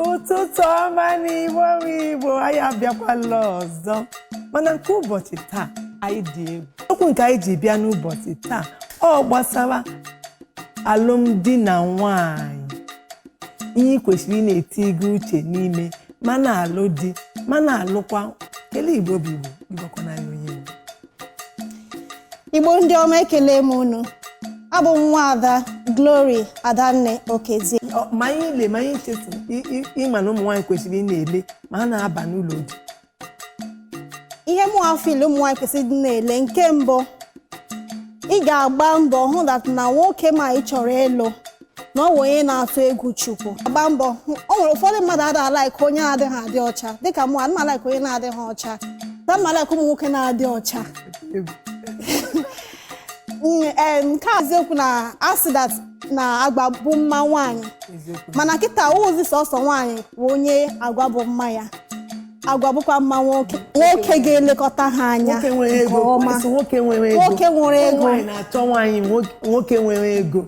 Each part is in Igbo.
ụtụtụ ọma nụ igbo bụ igbo anyị abịakwala ọzọ mana nke ụbọchị taa anyị dị egwu okwu nke anyị ji bịa n'ụbọchị taa ọ gbasara alụmdi na nwanyị ihe ị kwesịrị ị na-eti gị uche n'ime ma na-alụ di ma na-alụkwa kele igbo bụ igbo ịgwakwana ya onye igbo igbo ndị ọma ekele m unu abụ m nwa ada Glory Adanne Okezie ma anyị le ma anyị chefu ịma na ụmụ nwaanyị kwesịrị ị na-ele ma ha na-aba n'ụlọ di ihe mụwa feel ụmụ nwaanyị kwesịrị ịdị na-ele nke mbụ ị ga-agba mbọ hụ that na nwoke ma ị chọrọ ịlụ na ọ bụ onye na-atụ egwu chukwu gba mbọ o nwere ụfọdụ mmadụ ada alaiki onye na-adịghị adị ọcha dịka mụ ana m alaiki onye na-adịghị ọcha na m alaiki ụmụ nwoke na-adị ọcha Mm, eh, nke a eziokwu na a sị that na agwa bụ mma nwaanyị mana kịta ọzị sọsọ nwaanyị bụ onye agwa bụ mma ya agwa bụkwa mma nwoke nwoke ga-elekọta ha anya nwoke nwere ego nwoke nwere ego nwoke nwere ego na-achọ nwaanyị nwoke nwere ego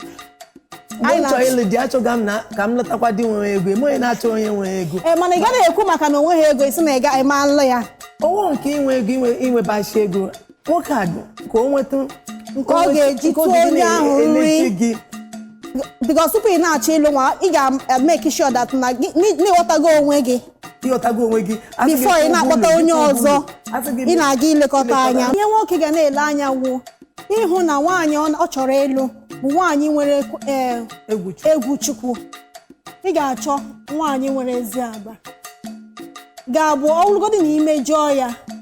anyị chọọ ịlụ di achọga m na ka m lọtakwa di nwere ego eme onye na-achọ onye nwere ego ee eh, mana ị gaghị ekwu maka na onweghị ego ị sị na ị ga ịma alụ ya owo nke inwe ego inwebachi ego nwoke a dị ka o nweta nke ọ ga-eji tụọ onye ahụ nri because tupu ị na-achọ ịlụ nwa ị ga-make sure that na gị na ị ghọtago onwe gị ị ghọtago onwe gị before ị na-akpọta onye ọzọ ị na-aga ilekọta anya ihe nwoke ga na-ele anya wụ ịhụ na nwaanyị ọ chọrọ ịlụ bụ nwaanyị nwere eh, egwu chukwu ị ga-achọ nwaanyị nwere ezi agwa ga-abụ ọ bụrụgodị na i mejọọ ya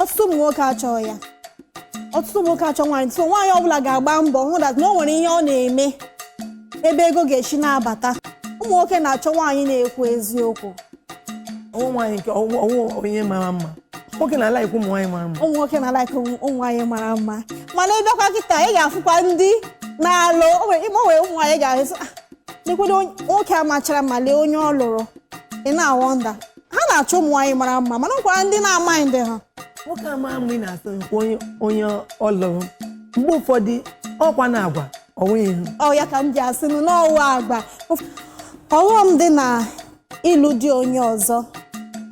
ọtụtụ ụmụ nwoke achọọ ya ọtụtụ ụmụ nwoke achọ nwaanyị so nwaanyị ọbụla ga-agba mbọ hụ that na o nwere ihe ọ na-eme ebe ego ga-esi na-abata ụmụ nwoke na-achọ nwaanyị na-ekwu eziokwu ọ wụ nwaanyị nke ọ wụ ọ wụ onye mara mma nwoke na-alaikwa ụmụ nwaanyị mara mma ụmụ nwoke na-alaịka ụmụ nwaanyị mara mma mana ị bịakwa kịta ị ga-afụkwa ndị na-alụ o nwere ime o nwere ụmụ nwaanyị ị ga-ahụ sị, "Ah, lekwere onye- nwoke a machara mma lee onye ọ lụrụ ị na-awọnda ha na-achọ ụmụ nwaanyị mara mma mana ọkwara ndị na-amaghị ndị ha nwoke ama mgbe ị na-asị nke onye onye ọ lụrụ mgbe ụfọdụ ọkwa na agwa ọ wụghị ihu ọ ya ka m ji asị nụ na ọ wụ agwa ọghọm dị na ịlụ di onye ọzọ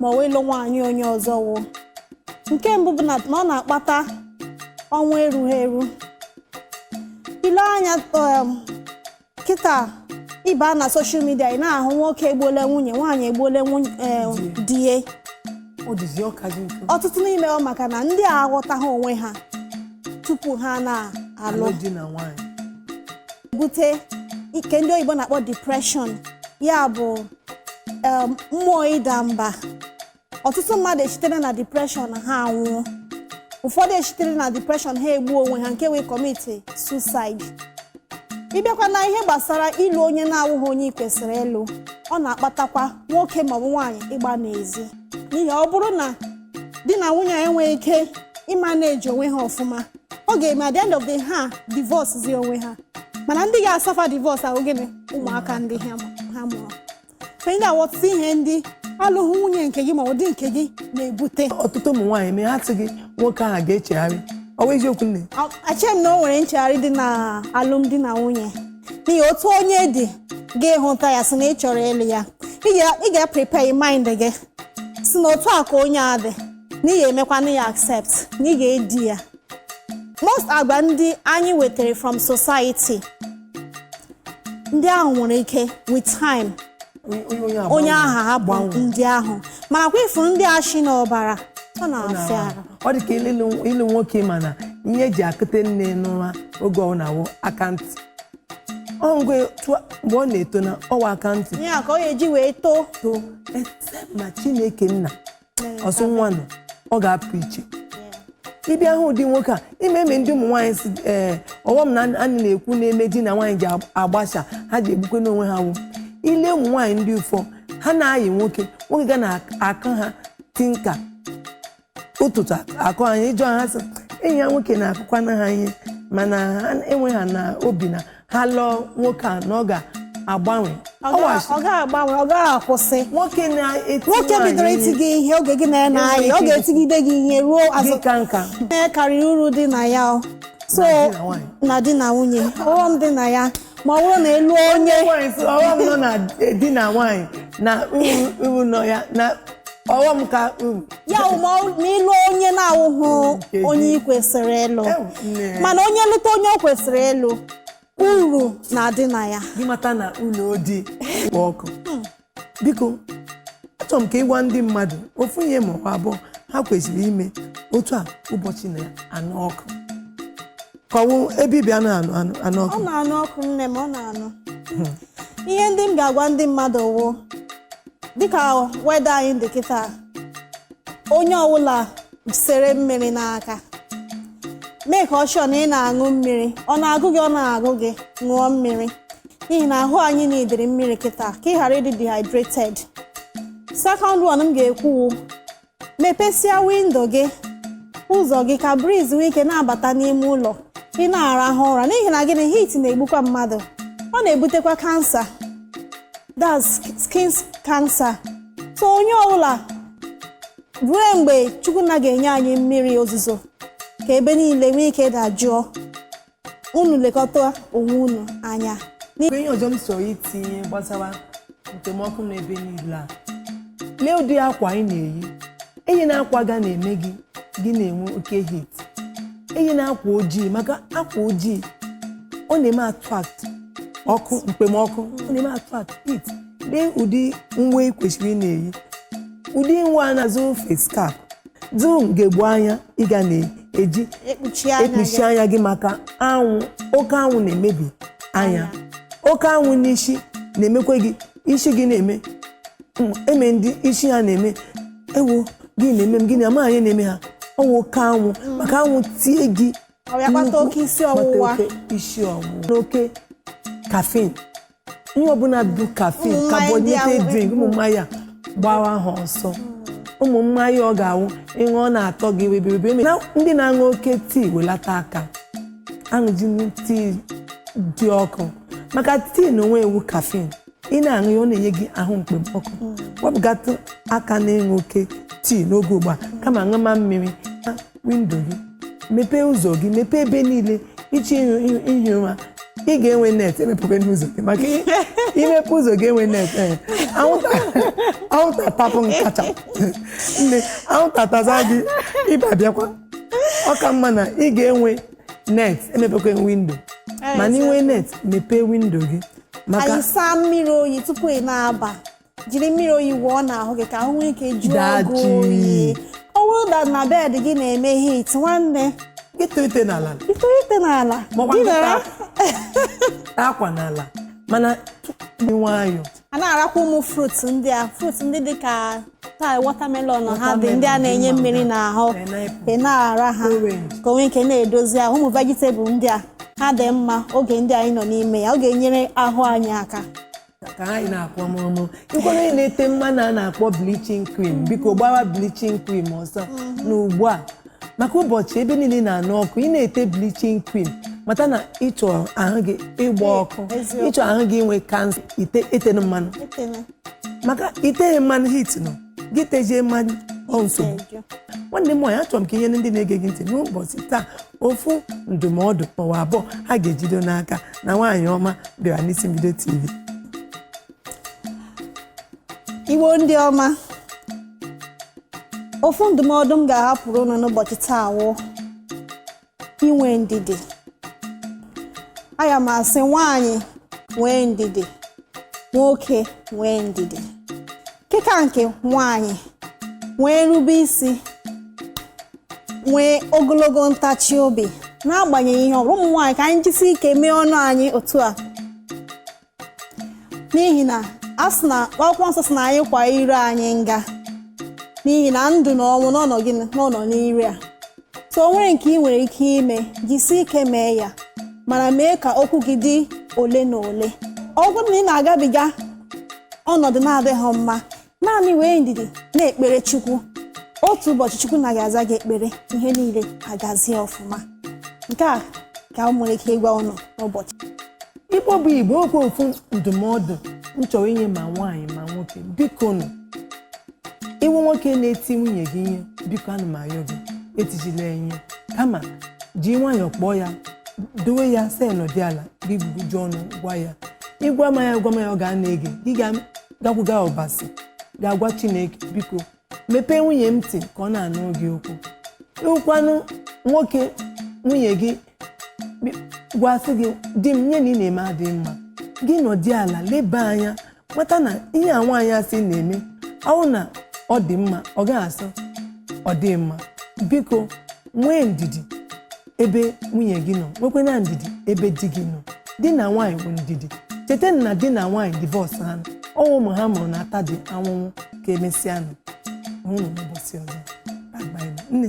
ma ọ wụ ịlụ nwaanyị onye ọzọ wụ nke mbụ bụ na na ọ na-akpata ọnwụ erughị eru ile anya um, kịta ịba na soshal midia ị na-ahụ nwoke egbuola nwunye nwaanyị egbuola nwunye eh, di ya Ọ dịzi ọka gị mfe. ọtụtụ n'ime ọ maka na ndị a aghọtaghị onwe ha tupu ha na-alụ Alụ di na nwaanyị. bute ihe ndị oyibo na-akpọ depression ya bụ em, mmụọ ịda mba ọtụtụ mmadụ esitere na depreshọn ha anwụọ ụfọdụ esitere na depreshọn ha egbuo onwe ha nke wụ ịkọmiti susaid ịbịakwa na ihe gbasara ịlụ onye na-awụghị onye ị kwesịrị ịlụ ọ na-akpatakwa nwoke maọbụ nwaanyị ịgba n'ezi n'ihi ọ bụrụ na di na nwunye enweghị ike ịmaneji onwe ha ọfụma ọ ga-eme at the end of the ha divorce zi onwe ha mana ndị ga-asafa divorce a wụ gịnị ụmụaka ndị ha mụrụ ka ị ga-aghọta ihe ndị alụghị nwunye nke gị maọbụ di nke gị na-ebute ọtụtụ ụmụ nwaanyị mee ha sị gị nwoke ahụ ga-echegharị ọ bụ eziokwu nne acheghị m na o nwere nchegharị dị na alụmdi na nwunye n'ihi otu onye dị gị hụta ya sị na ị chọrọ ịlụ ya Ị ga- ị ga-prepare mind gị sị na otu a ka onye a dị na ị ga-emekwanụ ya accept na ị ga-edi ya most agwa ndị anyị wetara from society ndị ahụ nwere ike with time onye ahụ ahapụ ndị ahụ mana kwa ị fụrụ ndị a shi n'ọbara ọ na-afịa arụ ọ dị ka ịlụ nwoke ma na ihe eji akụte nne n'ụra oge ọ na-awụ aka ntị ọngwe mgbe ọ na-eto na ọ wụ aka ntị ya ka ọ ya-eji wee too too ma chineke nna ọsụ nwa nọ ọ ga-apụ iche ịbịa hụ ụdị nwoke a ime eme ndị ụmụ nwaanyị si ee ọghọm na anyị na-ekwu na-eme di na nwaanyị ji agbasa ha ji egbukwe n'onwe ha wụ ile ụmụ nwaanyị ndị ụfọ ha na-ayị nwoke nwoke ga na-akụ ha tinka ụtụtụ akụ ha ị jụọ ha sị enyi ya nwoke na-akụkwana ha ihe mana ha enwe ha na obi na ha lụọ nwoke a na ọ ga-agbanwe Ọ Ọ ga- was- ọ ga-agbanwe ọ gaghị akwụsị nwoke na-eti nwoke nwaanyị bidoro iti gị ihe oge gị na ya na-ayị ọ ga-etigide gị ihe ruo gị azụ ka nka ihe karịrị uru dị na ya o. so Na di na nwaanyị. na di na nwunye ọghọm dị na ya ma ọ bụrụ na ịlụ onye nwaanyị sị ọghọm nọ na di na nwaanyị na uru uru nọ ya na ọghọm ka uru ya wụ ma ọ- ma ịlụ onye na-awụghị Nkeji. onye ị kwesịrị ịlụ Ew, nne. mana onye lụta onye o kwesịrị ịlụ uru na-adị na ya gị mata na ụlọ di kpụ ọkụ biko achọrọ m ka ị gwa ndị mmadụ ofu ihe ma ọ bụ abụọ ha kwesịrị ime otu a ụbọchị na-anụ ọkụ kọwụ ebe i bi na-anụ ọkụ ọ na-anụ ọkụ nne m ọ na-anụ ihe ndị m ga-agwa ndị mmadụ wụ dịka weather anyị dị kịta onye ọbụla sere mmiri n'aka make sure na ị na-aṅụ mmiri ọ na-agụ gị ọ na-agụ gị ṅụọ mmiri n'ihi na ahụ anyị needịrị mmiri kịta ka ị ghara ịdị dehydrated second one m ga-ekwu wụ mepesịa windo gị ụzọ gị ka breeze nwee ike na-abata n'ime ụlọ ị na-arahụ ụra n'ihi na gịnị heat na-egbukwa mmadụ ọ na-ebutekwa cancer that's skin cancer so onye ọbụla ruo mgbe chukwu nna ga-enye anyị mmiri ozuzo ka ebe niile nwee ike dajụọ unu lekọta onwe unu anya ihe ọzọ m chọrọ itinye gbasara mkpemọkụ n'ebe niile a lee ụdị akwa anyị na-eyi eyina akwa ga na-eme gị gị na-enwe oke heat eyina akwa ojii maka akwa ojii ọ na-eme attract ọkụ mkpemọkụ ọ na-eme attract heat lee ụdị uwe ị kwesịrị ị na-eyi ụdị nwa a na-azụ face cap zụọ ugegbe anya ị ga na-eji ekpuchi anya gị maka anwụ oke anwụ na-emebi anya oke anwụ n'isi na-emekwa gị isi gị na-eme mm, eme ndị isi ha na-eme ewo gị na-eme m gịnị amaghị ihe na-eme ha ọ wụ oke anwụ maka anwụ tie gị ọ bịa kpata nnukwu, oke isi kpata ọwụwa oke isi ọwụwa aṅụna oke caffeine ihe ọbụla bụ caffeine Ụmụ mmanya ndị ahụ carbonated drink ụmụ mmanya gbawa ha ọsọ ụmụ mmanya ọ ga-awụ ị ṅụọ ọ na-atọ gị webiribe eme na ndị na-aṅụ oke tii welata aka aṅụzina tii dị ọkụ maka tii n'onwe ya wụ caffeine ị na-aṅụ ya ọ na-enye gị ahụ mkpemọkụ wepụgatụ aka n'ịṅụ oke tii n'oge ugbu a kama ṅụma mmiri windo gị mepee ụzọ gị mepee ebe niile ị chọọ ihi ụra ị ga-enwe net emepekwana ụzọ gị maka i mepee ụzọ ga-enwe net eh, anwụta tapụ nkacha nne anwụta taa gị ịba bịakwa ọ ka mma na ị ga-enwe net emepekwa windo eh, mana i nwee net mepee windo gị maka anyị saa mmiri oyi tupu ị na-aba jiri mmiri oyi wụọ n'ahụ gị ka ahụ nwee ike jụọ Daa gị jụụ. oyi ọ bụrụ na bed gị na-eme heat nwanne ị tọọ ute n'ala ị tọọ ute n'ala Maọbụ dinara tọọ akwa n'ala mana tupu dị nwayọọ a na-arakwa ụmụ fruit ndị a fruit ndị dị ka tai watermelon ha dị ndị a na-enye mmiri n'ahụ Pineapple. ị na-ara ha Orange. ka o nwee ike na-edozi ahụ ụmụ vegetable ndị a ha dị mma oge ndị anyị nọ n'ime ya ọ ga-enyere ahụ anyị aka ka anyị na-akpọ mụrụmụrụ ịkwara onye na-ete mmanụ a na-akpọ bleaching cream biko gbawa bleaching cream ọsọ na ugbu a maka ụbọchị ebe niile na-anụ ọkụ ị na-ete bleaching cream mata na ị chọ ahụ gị ịgba ọkụ Eziokwu. ị chọ ahụ gị inwe kansa ite etena mmanụ Etena. maka i teghị mmanụ heat nọ gị tejie mmanụ ọ nsogbu Ejo. nwanne m nwaanyị achọrọ m ka i nye ndị na-ege gị ntị n'ụbọchị taa ofu ndụmọdụ maọbụ abụọ ha ga-ejido n'aka na nwaanyị ọma bịara n'Isi Mbido TV Igbo ndị ọma ofu ndụmọdụ m ga-ahapụrụ unu n'ụbọchị taa wụ inwe ndidi aga m asị nwaanyị nwee ndidi nwoke nwee ndidi nke ka nke nwanyị nwee nrube isi nwee ogologo ntachi obi n'agbanyeghị ihe ọbụla ụmụ nwaanyị ka anyị jisi ike mee ọnụ anyị otu a n'ihi na a sị na akwụkwọ nsọ sị na anyị kwa ire anyị nga n'ihi na ndụ na ọnwụ na ọ nọ gịnị na ọ nọ n'ire a so o nwere nke ị nwere ike ime jisi ike mee ya mana mee ka okwu gị dị ole na ole ọ bụrụ na ị na-agabiga ọnọdụ na-adịghị mma naanị nwee ndidi na-ekpere chukwu otu ụbọchị chukwu na ga-aza gị ekpere ihe niile agazie ọfụma nke a ka m nwere ike ịgwa ụnụ n'ụbọchị Igbo bụ Igbo okwu ofu ndụmọdụ m chọrọ inye ma nwaanyị ma nwoke biko nụ ị wụ nwoke na-eti nwunye gị ihe biko ana m ayọ gị etijila ya ihe kama ji nwayọọ kpọọ ya dowe ya sị nọdị ala gị gbuju ọnụ gwa ya ị gwama ya gwama ya ọ ga-ana ege gị ga-gakwuga ọbasi ga-agwa chineke biko mepee nwunye m ntị ka ọ na-anụ gị okwu ị wụkwanụ nwoke nwunye gị gwasị gị di m ihe a ị na-eme adịghị mma gị nọdị ala leba anya mata na ihe a nwaanyị a sị na-eme ọ wụ na ọ dị mma ọ gaghị asị ọ dị mma biko nwee ndidi ebe nwunye gị nọ nwekwenụ ndidi ebe di gị nọ di na nwaanyị bụ ndidi cheta na di na nwaanyị divorce ha ọ wụ ụmụ ha mụrụ na-atadị ahụhụ ka emesịa nụ ọ wụrụ n'ụbọchị ọzọ nne